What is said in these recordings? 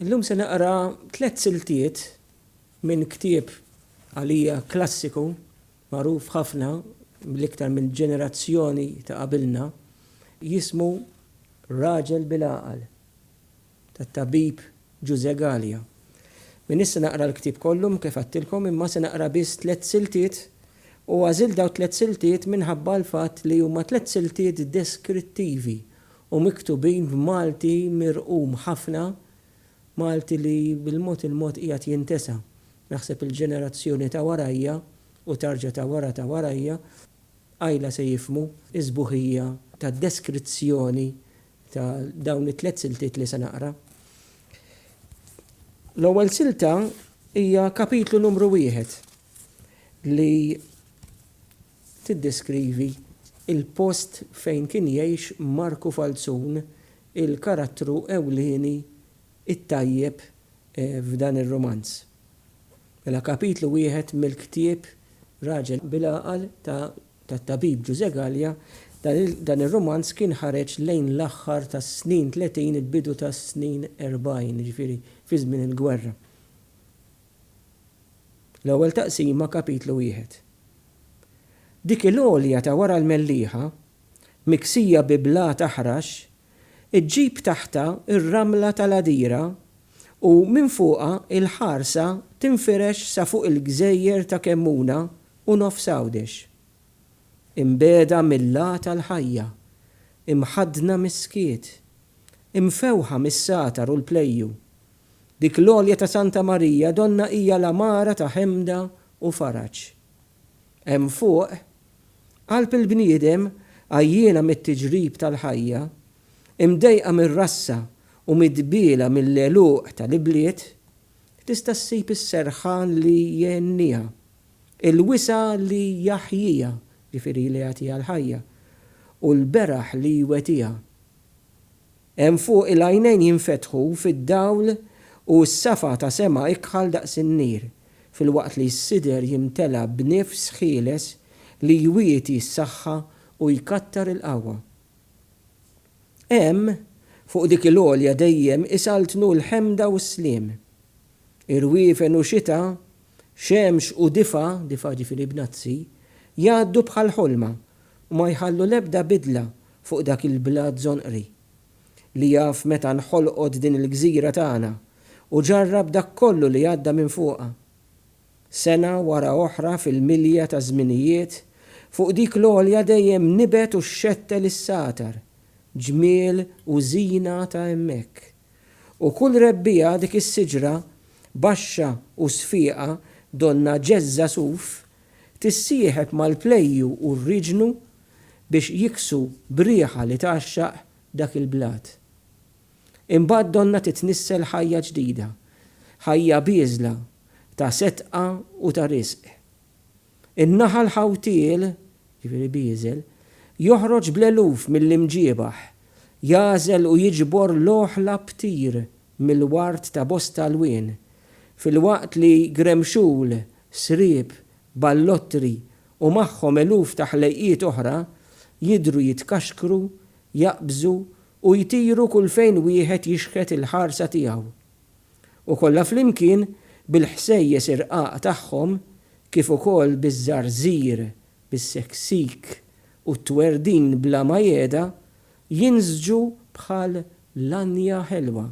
Illum se naqra tliet siltiet minn ktieb għalija klassiku magħruf ħafna mill-iktar minn ġenerazzjoni ta' qabilna jismu Raġel bil-Għaqal tat-tabib Ġużè Galea. M'iniex se naqra l-ktieb kollu kif għedtilkom imma se naqra biss tliet siltiet u għażilt dawn it-tliet siltiet minħabba l-fatt li huma tliet siltiet deskrittivi u miktubin b'Malti mirqum ħafna, Malti li bil-mod il-mod qiegħed jintesa. Naħseb il-ġenerazzjoni ta' warajja u tarġa' ta' wara ta' warajja qajla se jifhmu s-sbuħija tad-deskrizzjoni ta' dawn it-tliet siltiet li se naqra. L-ewwel silta hija kapitlu numru wieħed li tiddeskrivi l-post fejn kien jgħix Marku Falzon, il-karattru ewlieni t-tajjeb f'dan ir-rumanz. Mela kapitlu wieħed mill-ktieb Raġel bil-għaqal tat-tabib Ġużè Galea, dan ir-rumanz kien ħareġ lejn l-aħħar tas-snin tletin il-bidu tas-snin erbgħin, jiġifieri fi żmien il-gwerra. L-ewwel taqsima kapitlu wieħed. Dik il-għolja ta' wara l-mellieħa, miksija bi blat aħrax, iġġib taħtha r-ramla tal-għadira u minn fuqha l-ħarsa tinfirex sa fuq il-gżejjer ta' Kemmuna u Nofs Għawdex. Imbiegħda mill-għata l-ħajja, imħaddna mis-skiet, imfewħa mis-satar u l-plejju, Dik l-għolja ta' Santa Marija Donna hija l-għamara ta' ħemda u faraġ. Hemm fuq, qalb il-bniedem għajjiena mit-tiġrib tal-ħajja, imdejqa mir-rassa u midbiela mill-għeluq tal-ibliet, tista' ssib is-serħan li jgħenniha, il-wisa' li jaħjiha, ġifieri li jagħtiha l-ħajja, u l-beraħ li jwetiha. Hemm fuq il-għajnejn jinfetħu fid-dawl u s-safa ta' sema ikħal daqs in-nir, filwaqt li s-sider jimtela b'nifs ħieles li jwieti s-saħħa u jkattar il-qawwa. Hemm, fuq dik il-għolja dejjem isaltnu l-ħemda u s-sliem. Irwiefen u xita, xemx u difa, difa' jiġifieri bnazzi, jgħaddu bħal ħolma u ma jħallu l-ebda bidla fuq dak il-blat żonqri, li jaf meta nħolqot din il-gżira tagħna u ġarrab dak kollu li għadda minn fuqha. Sena wara oħra fil-milja taż-żminijiet, fuq dik l-għolja dejjem nibet u xxettel is-satar, ġmiel u żina ta' hemmhekk. U kull rebbiegħa dik is-siġra, baxxa u sfieqa, donnha ġeżża suf, tissieħeb mal-plejju u r-riġnu biex jiksu b'riħa li tgħaxxaq dak il-blat. Imbagħad donnha titnissel ħajja ġdida, ħajja bieżla ta' setqa u ta' riżq. In-naħal ħawtiel, jiġifieri bieżel, joħroġ bl-eluf mill-imġiebaħ, jagħżel u jiġbor l-oħla ptir mill-ward ta' bosta lwien, filwaqt li gremxul, sriep, ballottri u magħhom eluf ta' ħlejqiet oħra, jidhru jitkaxkru, jaqbżu u jtiru kull fejn wieħed jixħet il-ħarsa tiegħu. U kollha flimkien, bil-ħsejjes irqaq tagħhom, kif ukoll biż-żarżir, bis-seksik u t-twerdin bla ma jehda, jinżġu bħal lanja ħelwa,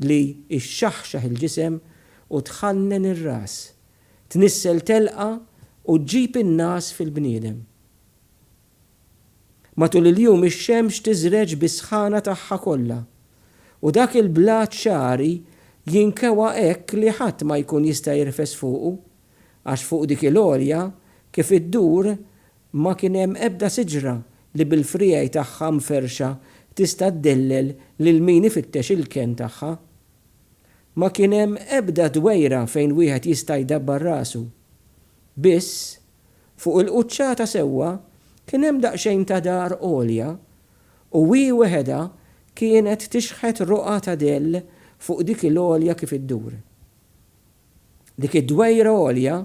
li xxaħxaħ il-ġisem u tħannen ir-ras, tnissel telqa u ġġib in-ngħas fil-bniedem. Matul il-jum ix-xemx tiżreġ bis-sħana tagħha kollha, u dak il-blat xagħri jinkewa hekk li ħadd ma jkun jista' jirfes fuqu, għax fuq dik il-għolja kif iddur ma kien hemm ebda siġra li bil-friegħi tagħha mferrxa tista' ddellel lil min ifittex il-kenn tagħha. Ma kien hemm ebda dwejra fejn wieħed jista' jdabbar rasu. Biss, fuq il-quċċata sewwa kien hemm daqsxejn ta' dar għolja u hi weħedha kienet tixħet roqgħa ta' dell fuq dik il-għolja kif iddur. Dik id-dwejra għolja,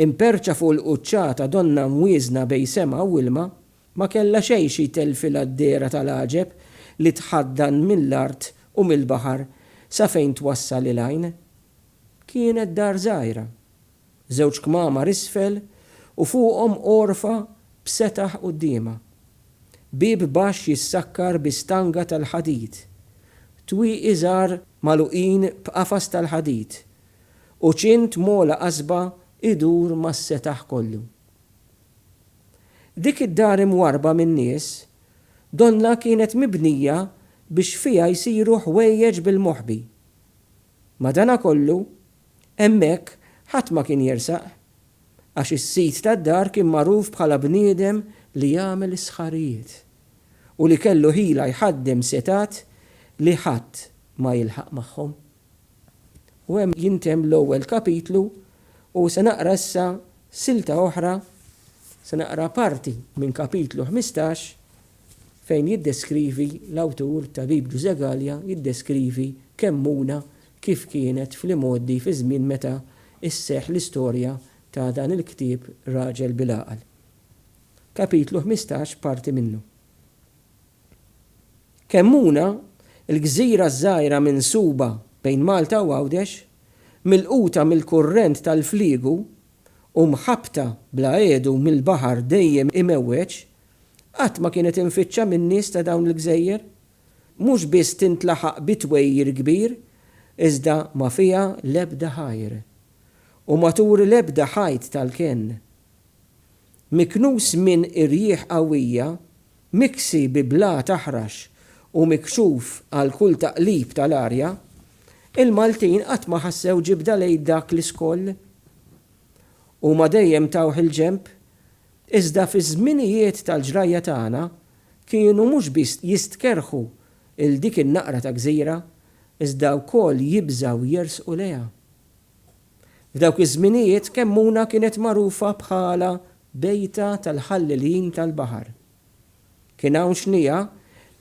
imperrċa fuq il-quċċata donnha mwieżna bejn sema u ilma, Ma kellha xejn xi jtellfilha d-dehra tal-għaġeb li tħaddan mill-art u mill-baħar sa fejn twassal il-għajn. Kienet dar żgħira. Żewġ kmamar isfel u fuqhom għorfa b'setaħ quddiemha. Bieb baxx jissakkar bi stanga tal-ħadid. Twieqi żgħar magħluqin b'qafas tal-ħadid. U ċint mogħla qasba jdur mas-setaħ kollu. Dik id-dar imwarrba min-nies, donnha kienet mibnija biex fiha jsiru ħwejjeġ bil-moħbi. Madanakollu, hemmhekk ħadd ma kien jersaq, għax is-sid tad-dar kien magħruf bħala bniedem li jagħmel is-sħarijiet u li kellu ħila jħaddem setgħat li ħadd ma jilħaq magħhom. U hemm jintemm l-ewwel kapitlu u se naqra issa silta oħra, se naqra parti minn kapitlu ħmistax fejn jiddeskrivi l-awtur ta' Bib Ġużè Galea jiddeskrivi Kemmuna kif kienet fl-imgħoddi fiż-żmien meta sseħħ l-istorja ta' dan il-ktieb Raġel bil-Għaqal. Kapitlu ħmistax parti minnu. Kemmuna, il-gżira ż-żgħira minsuba bejn Malta u Għawdex, milquta mill-kurrent tal-fliegu u mħabbta bla għedu mill-baħar dejjem imewweġ, qatt ma kienet imfittxa min-nies ta' dawn il-gżejjer. Mhux biss tintlaħaq bi twegħir kbir, iżda ma fiha l-ebda ħajr, u ma turi l-ebda ħajt tal-kenn. Miknus minn irjieħ qawwija, Miksi bi blat aħrax u mikxuf għal kull taqlib tal-arja, il-Maltin qatt ma ħassew ġibda lejn dak l-iskoll. Huma dejjem tawh il-ġenb, iżda fiż-żminijiet tal-ġrajja tagħna kienu mhux biss jistkerrħu 'l dik in-naqra ta' gżira, iżda wkoll jibżgħu jersqu lejha. F'dawk iż-żminijiet Kemmuna kienet magħrufa bħala bejta tal-ħallelin tal-baħar. Kien hawn xniegħa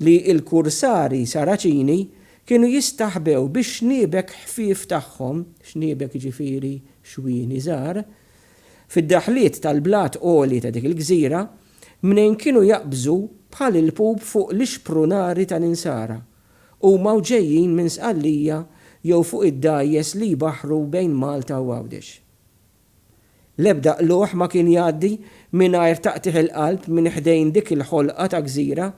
li l-kursari Saraċini kienu jistaħbew bix-xniebek ħfief tagħhom, xniebek jiġifieri xwieni żgħar, fid-daħliet tal-blat għoli ta' dik il-gżira, mnejn kienu jaqbżu bħal il-pup fuq l-ixprunari tal-insara Huma u ġejjin minn Sqallija jew fuq id-dgħajjes li jbaħħru bejn Malta u Għawdex. L-ebda qlugħ ma kien jgħaddi mingħajr taqtigħ il-qalb minn ħdejn dik il-ħolqa ta' gżira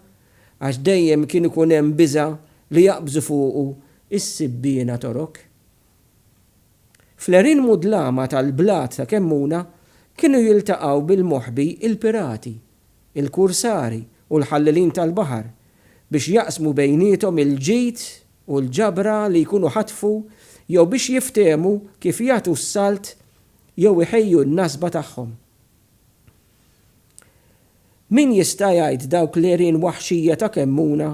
għax dejjem kien ikun hemm biża' li jaqbżu fuqu s-sibbiena Torok. Fl-għerien mudlama tal-blat ta' Kemmuna kienu jiltaqgħu bil-moħbi il-pirati, il-kursari u l-ħallelin tal-baħar biex jaqsmu bejniethom il-ġid u l-ġabra li jkunu ħatfu jew biex jiftehmu kif jagħtu s-salt jew iħejju n-nasba tagħhom. Min jista' jgħid dawk l-għerien waħxija ta' Kemmuna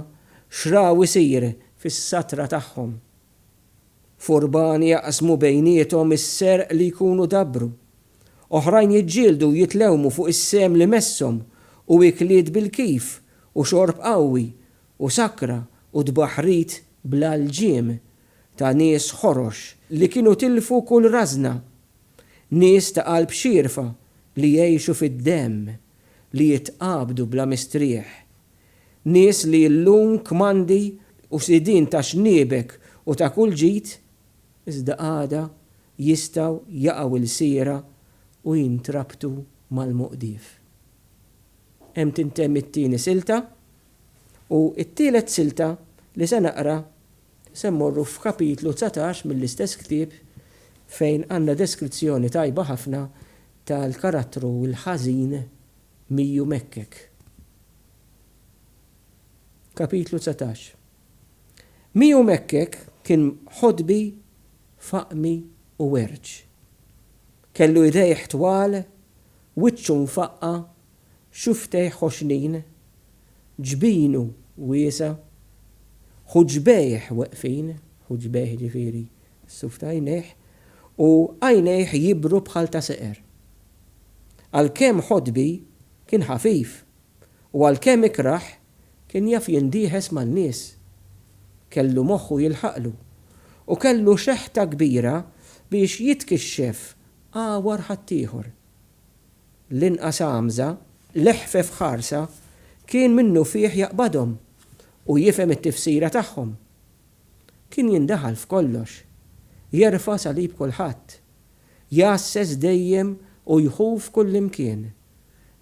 x'raw isir fis-satra tagħhom? Furban jaqsmu bejniethom is-serq li jkunu dabbru. Oħrajn jiġġieldu u jitlewmu fuq is-sehem li messhom u ikliet bil-kif u xorb qawwi u sakra u tbaħħrit bla lġiem ta' nies ħorox li kienu tilfu kull rażna. Nies ta' qalb xierfa li jgħixu fid-demm, li jitqabdu bla mistrieħ. Nies li llum kmandi u sidien ta' xniebek u ta' kull ġid, iżda għada jistgħu jaqgħu lsira u jintrabtu mal-moqdif. Hemm tintemm it-tieni silta, u t-tielet silta li se naqra se mmorru f'kapitlu dsatax mill-istess ktieb fejn għandna deskrizzjoni tajba ħafna tal-karattru l-ħażin Miju Mekkek. Kapitlu dsatax. Miju Mekkek kien ħodbi, faqmi u werġ. Kellu idejh twal, wiċċu mfaqqa', xufftejh ħoxnin, ġbinu wiesa', ħuġbejh weqfin, ħuġbejh jiġifieri s-suf ta' għajnejh, u għajnejh jibru bħal ta' seqer. Għalkemm ħodbi, kien ħafif, u għalkemm ikrah, kien jaf jindiehes man-nies. Kellu moħħu jilħaqlu, u kellu xeħta kbira biex jitkixxef agħwar ħaddieħor. L-inqas għamża, l-eħfef ħarsa, kien minnufih jaqbadhom u jifhem it-tifsira tagħhom. Kien jindaħal f'kollox, jerfa' salib kulħadd, jgħasses dejjem u jħuf kullimkien,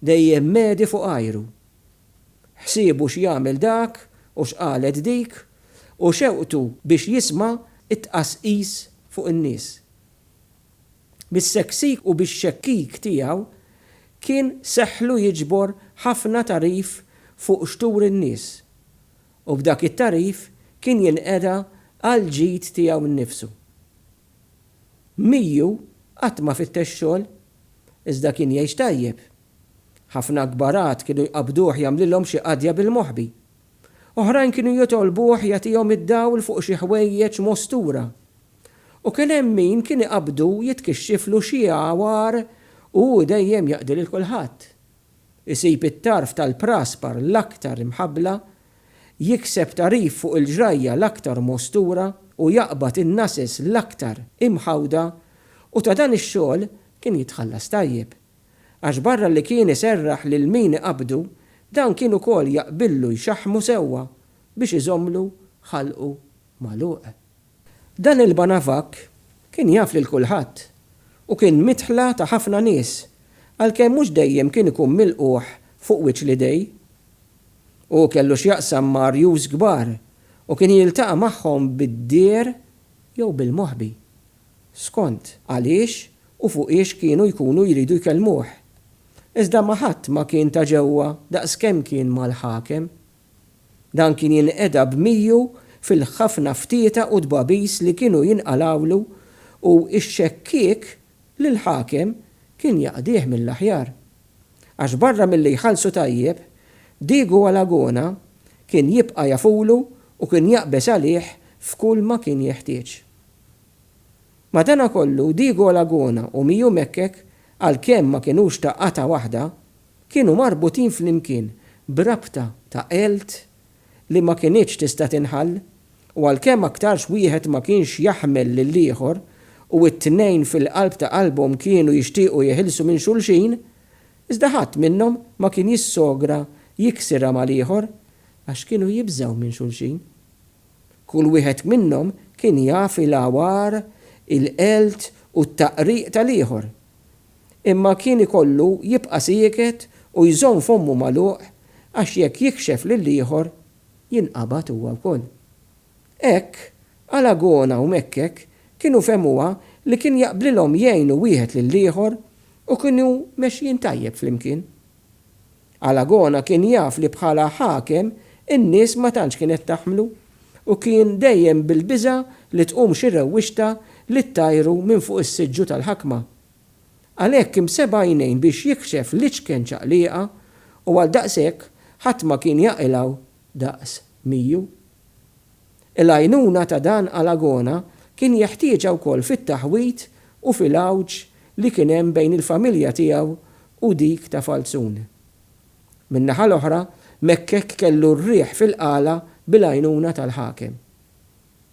dejjem medi fuq għajru. Ħsiebu x'jagħmel dak u x'qalet dik u xewqtu biex jisma' t-tqasqis fuq in-nies. Bis-seksik u bix-xekkik tiegħu kien seħħlu jiġbor ħafna tagħrif fuq x'tur in-nies u b'dak it-tagħrif kien jinqeda għall-ġid tiegħu nnifsu. Miu qatt ma fittex xogħol, iżda kien jgħix tajjeb. Ħafna kbar għad kienu jqabbduh jagħmlilhom xi qadja bil-moħbi. Oħrajn kienu jitolbuh jagħtihom id-dawl fuq xi ħwejjeġ mostura. U kien hemm min kien iqabbdu jitkixxiflu xi għawar u hu dejjem jaqdi lil kulħadd. isib it-tarf tal-praspar l-aktar imħabbla, jikseb tagħrif fuq il-ġrajja l-aktar mostura u jaqbad in-nases l-aktar imħawda u ta' dan ix-xogħol kien jitħallas tajjeb. Għax barra li kien iserraħ lil min iqabbdu, dan kien ukoll jaqbillu jxaħħmu sewwa biex iżommlu ħalqu magħluq. Dan il-banavakk kien jaf lil kulħadd u kien midħla ta' ħafna nies għalkemm mhux dejjem kien ikun milqugħ fuq wiċċ l-idej. Hu kellu x'jaqsam ma' arjus kbar u kien jiltaqa' magħhom bid-deher jew bil-moħbi, skont għaliex u fuqiex kienu jkunu jridu jkellmuh. Iżda ma' ħadd ma kien ta' ġewwa daqskemm kien mal-ħakem. Dan kien jinqeda b'mieghu fil-ħafna ftieta u dbabis li kienu jinqalgħulu u x-xekkiek lill-ħakem kien jaqdih mill-aħjar. Għax barra milli jħallsu tajjeb, Diego Alagona kien jibqa' jafulu u kien jaqbeż għalih f'kull ma kien jeħtieġ. Madanakollu Diego Alagona u Miu Mekek għalkemm ma kinux ta' qatgħa waħda, kienu marbutin flimkien b'rabta ta' għelt li ma kinitx tista' tinħall, u għalkemm aktarx wieħed ma kienx jaħmel lill-ieħor u t-tnejn fil-qalb ta' qalbhom kienu jixtiequ jeħilsu minn xulxin, iżda ħadd minnhom ma kien jissogra jiksirha mal-ieħor għax kienu jibżgħu minn xulxin. Kull wieħed minnhom kien jaf il-għawar, il-għelt u t-taqriq tal-ieħor, Imma kien ikollu jibqa' sieket u jżomm fommu magħluq għax jekk jikxef lill-ieħor, jinqabad huwa wkoll. Hekk, Alagona u Mekkek kienu fehmuha li kien jaqblilhom jgħinu wieħed lill-ieħor u kienu mexjin tajjeb flimkien. Alagona kien jaf li bħala ħakem in-nies ma tantx kienet taħmlu u kien dejjem bil-biża' li tqum xi rewwixta li ttajru minn fuq is-siġġu tal-ħakma. Għalhekk imseb għajnejn biex jikxef l-iċken ċaqlieqa u għal daqshekk ħadd ma kien jaqilgħu daqs Miju. Il-għajnuna ta' dan Alagona kien jeħtieġha wkoll fit-taħwid u fil-għawġ li kien hemm bejn il-familja tiegħu u dik ta' Falzon. Min-naħa l-oħra, Mekkek kellu r-riħ fil-qala bil-għajnuna tal-ħakem.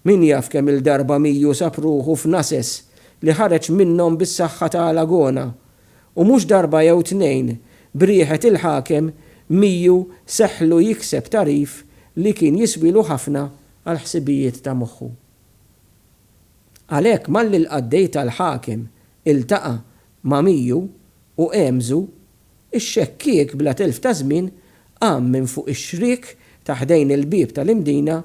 Min jaf kemm-il darba Miju sab ruħu f'nases li ħareġ minnhom bis-saħħa ta' Alagona u mhux darba jew tnejn b'riħet il-ħakem mieghu seħħlu jikseb tagħrif li kien jiswielu ħafna għall-ħsibijiet ta' moħħu. Għalhekk malli l-qaddej tal-ħakem iltaqa' ma' mieghu u għemżu, ix-xekkiek bla telf ta' żmien qam minn fuq ix-xriek ta' ħdejn il-bieb tal-imdina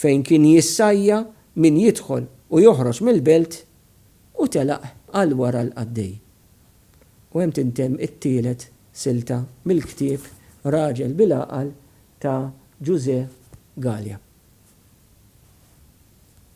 fejn kien jissajja min jidħol u joħroġ mill-belt, U telaq għal wara l-qaddej. U hemm tintemm it-tielet silta mill-ktieb Raġel bil-Għaqal ta' Ġużè Galea.